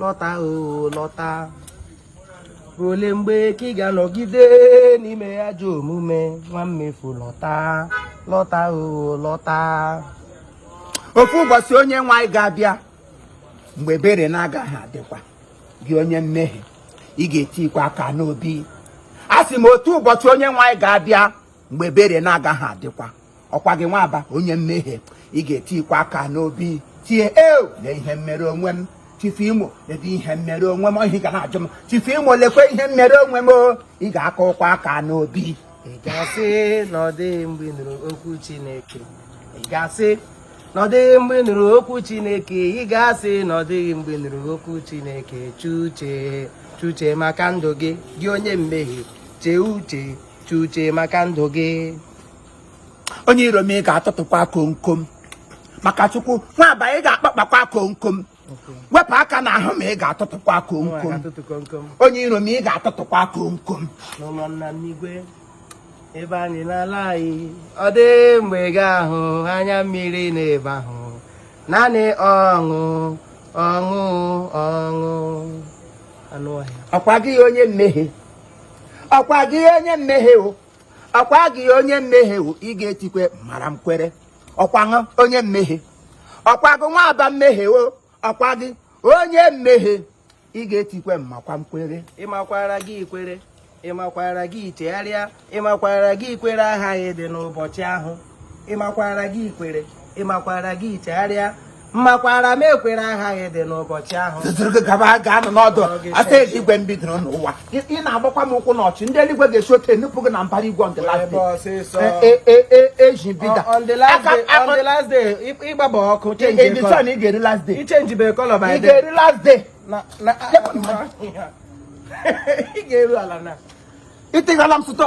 lọta oo lọta ruo ole mgbe ka ị ga-anọgide n'ime ajọ omume nwa mmefu lọta lọta oo lọta otu ụbọchị onye nwe anyị ga-abịa mgbe ebere na-agaghị adịkwa gị onye mmehie ị ga-etikwa aka n'obi a sị m otu ụbọchị onye nwe anyị ga-abịa mgbe ebere na-agaghị adịkwa ọkwa gị nwa aba onye mmehie ị ga-etikwa aka n'obi tie eu na ihe mmere onwe m chifu imo ebe ihe mmere onwe m ohi ga na-ajụ m chifu imo lekwa ihe mmere onwe m ị ga-aka ụkwa aka n'obi ị ga-asị na ọ dịghị mgbe ị nụrụ okwu Chineke ị ga-asị na ọ dịghị mgbe nụrụ okwu chineke ị ga-asị na ọ dịghị mgbe nụrụ okwu chineke chuche chuche maka ndụ gị gị onye mmehie chee uche chuche maka ndụ gị onye iro m ị ga-atụtụkwa komkom maka chukwu nwa aba ị ga-akpakpakwa komkom wepụ aka n'ahụ m ị ga-atụtụkwa komkom onye iro m ị ga-atụtụkwa komkom ebe anyị na-ala anyị ọ dịghị mgbe ị ga-ahụ anya mmiri n'ebe ahụ naanị ọṅụ ọṅụ ọṅụ ọkwa gị onye mmehie ọkwa gị onye mmehie o ọkwa gị onye mmehie o ị ga-etikwe m mara m kwere ọkwa gị onye mmehie ọkwa gị nwa aba mmehie wo ọkwa gị onye mmehie ị ga-etikwe m makwa m kwere ị makwara gị ikwere ị makwara gị ichegharịa ị makwara gị ikwere agaghị adị n'ụbọchị ahụ ị makwara gị ikwere ị makwara gị ichegharịa m makwara m ekwere agaghị adị n'ụbọchị ahụ ga-anọ n'ọdụ asa eluigwe m bidoro n'ụwa ị na-agbakwa m ụkwụ n'ọchị ndị eluigwe ga-esi otu enupụ gị na mbara igwe on the last day e, e, e, eji bida on the last day ị gbaba ọkụ chenji ị ga-eri last day ichenji bụ color by day ị ga-eri last day ị ga-eru ala na ịtịghala m sụtọ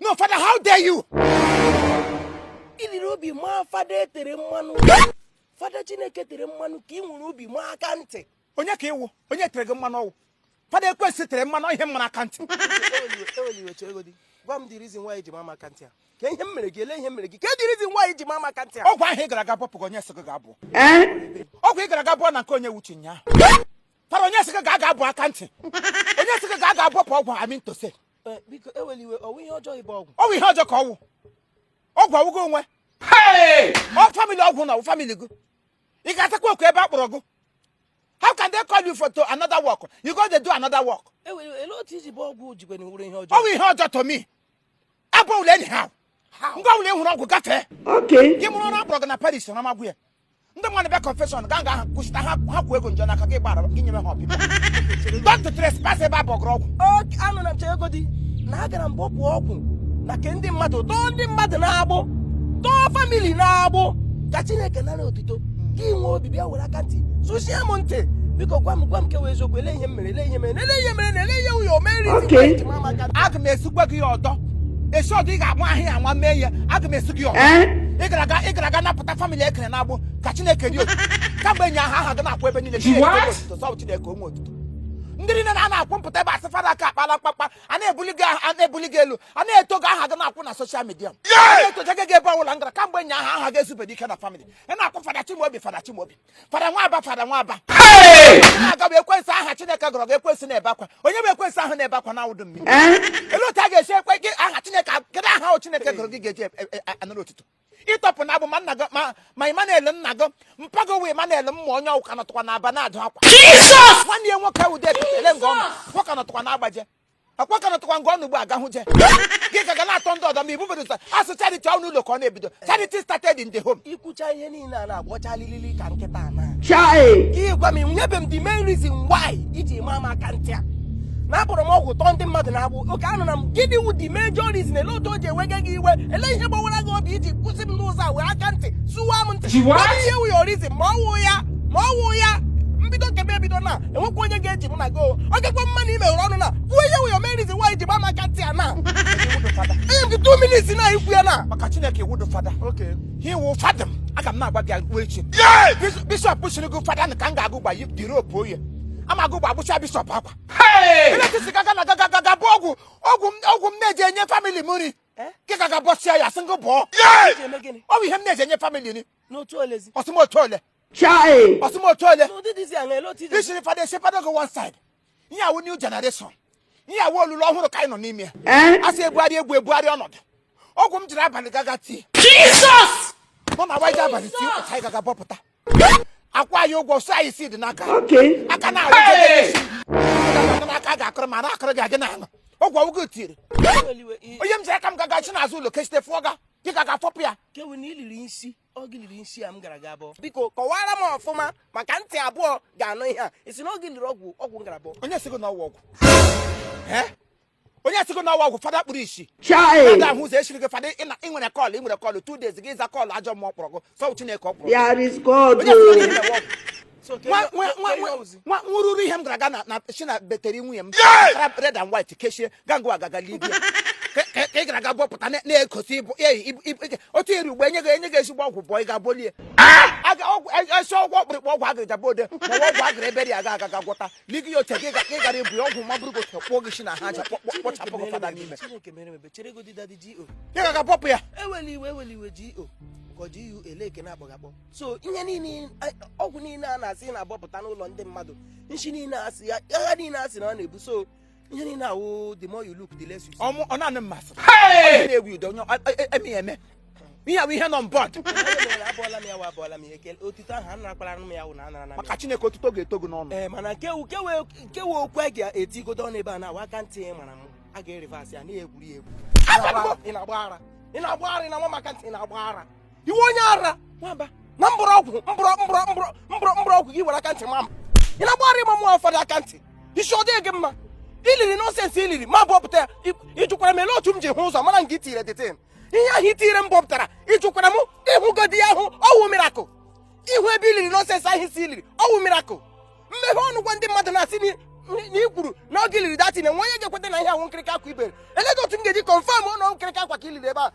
no father how dare you i nwere obi maa fada e tere mmanụ fada chineke tere mmanụ ka ị nwere obi maa aka ntị onye ka ị wụ onye tere gị mmanụ ọ wụ fada ekwensu tere mmanụ ihe m mara aka ntị gwa m the reason why i ji maa m aka ntị a kaa ihe m mere gị olee ihe m mere gị kaa the reason why i ji maa m aka ntị a ọgwụ ahụ ị gara aga bọpụ gị onye sị gị gaa bọọ ọgwụ ị gara aga bọọ na nke Onyewuchi nyaa fada onye sị gị gaa bọọ aka ntị onye sị gị gaa bọpụ ọgwụ I mean to say Eh, biko ewela iwe ọ wụ ihe ọjọọ ịbọ ọgwụ ọ wụ ihe ọjọọ ka ọ wụ ọgwụ ọ wụ gị nwe ọ family ọgwụ na ọ wụ family gị ị ga-azakwa oku ebe a kpọrọ gị how can they call you for to another work you go dey do another work olee otu i ji bọọ ọgwụ jikwe na wuru ihe ọjọọ ọ wụ ihe ọjọọ to me abụwụla anyhow nga ọwụla ị hụrụ ọgwụ gafee gị mụrụ ọrụ a kpọrọ gị na parish na magwụ ya ndị mmadụ bịa confession ga nga ahụ kwụsịta ha ha kwuo ego njọ n'aka gị gbara gị nyere ha ọpịpịa don't trespass ebe a bụ ọgụrụ ọgwụ okay anọ m na-echegodi na agara m bọpụ ọgwụ na ke ndị mmadụ tọọ ndị mmadụ n'agbụ tọọ famili n'agbụ ka chineke nara otito gị nwee obi bịa were aka ntị sụchie m ntị biko gwa m gwa m ke wụ eziokwu ele ihe m mere ele ihe m mere ele ihe m mere na ele ihe wụ your main reason Okay. nke mama ka aga m asụkwa gị ya ọdọ esi ọdọ ị ga-anwa ihe a anwa mee ya aga m asụ gị ya ọdọ Eh? ị gara aga ị gara aga napụta famili e kere n'agbụ ka chineke dị otu kamgbe enyi ahụ aha gị na-akwụ ebe niile chineke onwe otuto sọ bụ chineke onwe otuto ndị niile na a na-akwụ mpụta ebe a sị fada aka akpala mkpakpa a na-ebuli gị aha- a na-ebuli gị elu a na-eto gị aha gị na-akwụ na soshal midia a na-etoje gị ebe ọbụla m gara kamgbe enyi ahụ aha gị ezubere ike na famili a na-akpọ fada chimobi fada chimobi fada nwaba fada nwaba aga m ekwensị aha chineke gọrọ gị ekwensị na-ebe akwa onye bụ ekwensị ahụ na-ebe akwa n'awụdụ mmiri eh? ele otu a ga-esi ekwe gị aha chineke kedu aha ahụ chineke gọrọ gị ga-eji e, e, e, anara otuto ịtọpụ n'agbụ ma nna gị ma Emmanuel nna gị mpa gị wụ Emmanuel ma onye ọ wụ ka nọtụkwa na Aba na-adụ akwa nwanne ya nwoke wụde ekele nke ọma nwoke nọtụkwa na-agbaje akwa ka nọtụkwa ngwa ọnụ ugbu a gahụ je gị ka ga na-atọ ndị ọdọ ma ibu bedota a sị charity ọ n'ụlọ ka ọ na-ebido charity started in the home i kwucha ihe niile a na-agbọcha lilili ka nkịta na gị gwa m nyebe m the main reason why i ji maa m aka ntị a na abọrọ m ọgwụ tọọ ndị mmadụ n'agbụ okay anụna m gịnị wu the major reason ele otu o ji ewega gị iwe ele ihe gbawara gị obi i ji kwụsị m n'ụzọ a wee aka ntị sụwa m ntị Ji what? Ọ bụ ihe wu your reason ma ọ wụ ya ma ọ wụ ya m bido nke m ebido na enwekwa onye ga-eji mụ na gị o. ọ gakwa mma na ị meghere ọnụ na kwuo ihe wụ your main reason why i ji gba m aka ntị a na i wudu fada. enye m gị 2 minutes na i kwu ya na maka chineke i wudu fada Okay. ha i wu fada m aga m na-agba gị agwụ echi Bis- bishọp siri gị fada na ka m gaa agwụ gba yi- dịrị opu onye ama agwụ gba gbụcha bishọp akwa ele otu i si gaga na gaga gaga bọọ ọgwụ ọgwụ m- ọgwụ m na-eji enye famili m nri Eh? gị gaga bọsịa ya sị ngụ bụọ I ji eme gịnị? ọ bụ ihe m na-eji enye famili nri N'otu olezi. ọ sị m otu ole Chai! Ọ sị m otu ole! I siri fada esi fada go one side. Ihe a wụ new generation. Ihe a wụ olulu ọhụrụ ka anyị nọ n'ime ya. Eh? A sị ebugharị egwu ebugharị ọnọdụ. Ọgwụ m jiri abalị gaga tii. Jesus! Mụ na waje abalị tii ụka anyị gaga bọpụta. A kwụọ anyị ụgwọ sọ anyị si dị n'aka. Aka na-arụ gị n'aka ga-akụrụ ma na-akụrụ gị agị n'ala. Ọgwụ ọ wụ gị tiri. Onye m jiri aka m gaga chi n'azụ ụlọ kechite fụọ ga. Gị gaga fọpụ ya. Ke wụ na i liri nsi. ọ gị liri nsi a m gara ga bọọ biko kọwara m ọfụma maka ntị abụọ ga-anụ ihe a ị sị na ọ gị liri ọgwụ ọgwụ m gara bọọ onye sị gị na ọ wụ ọgwụ Eh? onye sị gị na ọ wụ ọgwụ fada kpuru isi Chai! ga-ahụ ụzọ e chiri gị fada ị na- ị nwere kọlụ ị nwere kọlụ two days gị ịza kọlụ ajọ mmụọ kpọrọ gị sọ chineke ọ kpọrọ gị. There is God. onye sị gị na ị oh. na-enwe ọgwụ nwụrụrụ ihe m gara aga na si na betere nwunye m ara red and white kechie gangụ agaga libe ya ka ị gara aga bọpụta na-egosi otu eri ugbo enye gị enye gị ezigbo ọgwụ bọọ ị ga-abọli ezi ọgwụ ọkpụrịkpụ ọgwụ agịrịja bụ ode ma ọ ọgwụ agịrị ebere ya ga-aga ga gwọta li gị ya oche gị ị gara ibu ya ọgwụ ma bụrụ gote kpụọ gị isi na ha aja kpọchapụ gị fada n'ime ị ga-aga bọpụ ya so ihe niile ọgwụ niile a na-asị na-abọpụta n'ụlọ ndị mmadụ nshi niile a sị ya agha niile a sị na ọ na-ebu so ihe niile awụ the more you look the less you see. ọ mụ ọ naanị mmasị na-egwu udo onye eme eme ihe bụ ihe nọ on board abụọla m ya wa abụọla m ya ekele otuto ahụ a narakwara m ya wụ na anara na maka chineke otuto ga-eto gị n'ọnụ ee mana nke ka wụ okwu a ga-etigodo ọnụ ebe a na awa aka ntị mara m a ga-ereverse ya na-egwuri egwu ị na-agba ara ị na-agba ara ị na-agba m aka ntị ị na-agba ara iwe onye ara nwamba na mkpụrụ ọgwụ gị were aka ntị ma m ị na-agba ara ị ma mụ fada aka ntị isi ọ dịghị gị mma i liri nonsense i liri m abọpụta ya ị jụkwara m ele otu m ji hụ ụzọ mara nke i tinyere that thing ihe ahụ i tinyere m bọpụtara ị jụkwara m ị hụgodi ya ahụ ọ wụ miracle ịhụ ebe i liri nonsense ahụ ị sị i liri ọ wụ miracle m meghe ọnụ gwa ndị mmadụ na-asị na i kwuru na oge i liri that thing o nwe onye ga-ekweta na ihe ahụ nkirịka akwa ibere eleedị otu m ga-eji confirm ụlọ nkirịka akwa ka i liri ebe a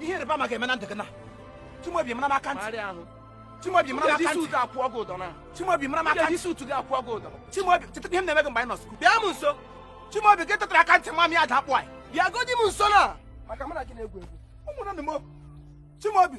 ihe ịrịba ama ga-eme na ndụ gị na Chimaobi mara m aka ntị Marịa ahụ. Chimaobi mara m i ji aka ntị suit akwụ ọgụ ụdọ na. Chimaobi mara m aka i ji ntị suit gị akwụ ọgụ ụdọ. Chimaobi cheta ihe m na-eme gị mgbe anyị nọ school Bịa m nso. Chimaobi gị tetara aka ntị ma m ya ada akpụ anyị Bịa godi m nso na. Maka mụ na gị na-egwu egwu. ụmụnne m Chimaobi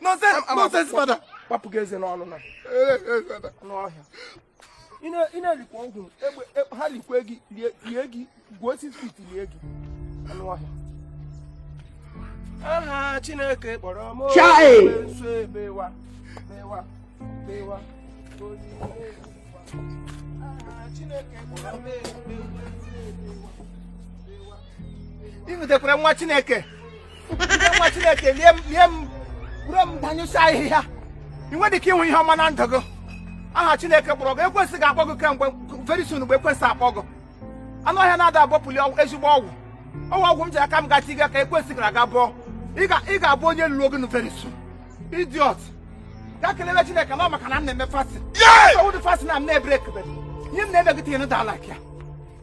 nonsense fada kpapụ gị eze n'ọnụ anụ ọhịa ị na-elikwa ọgwụ ha likwe gị lie gị gwuo six feet lie gị anụ ọhịa aha chineke kpọrọ m nso ebewa bewa bewa ị nụtekwara nwa chineke nwa chineke lie m lie m buru m danyụsịa ahịhịa ị nwedị ike ịhụ ihe ọma na ndụ gị aha chineke kpọrọ gị ekwensu ga-akpọ gị kemgbe very soon mgbe ekwensu akpọ gị anụ ọhịa na-ada abọpụli ezigbo ọgwụ ọgwụ ọgwụ m ji aka m gachi gị ka ekwensu gara aga bọọ ị ga-abụ onye lụrụ oge very soon idiot ga kelebe chineke na ọ maka na m na-eme fast ọ wụdị fast na m na-ebrekebe ihe m na-eme gị tinye n'ụda alike ya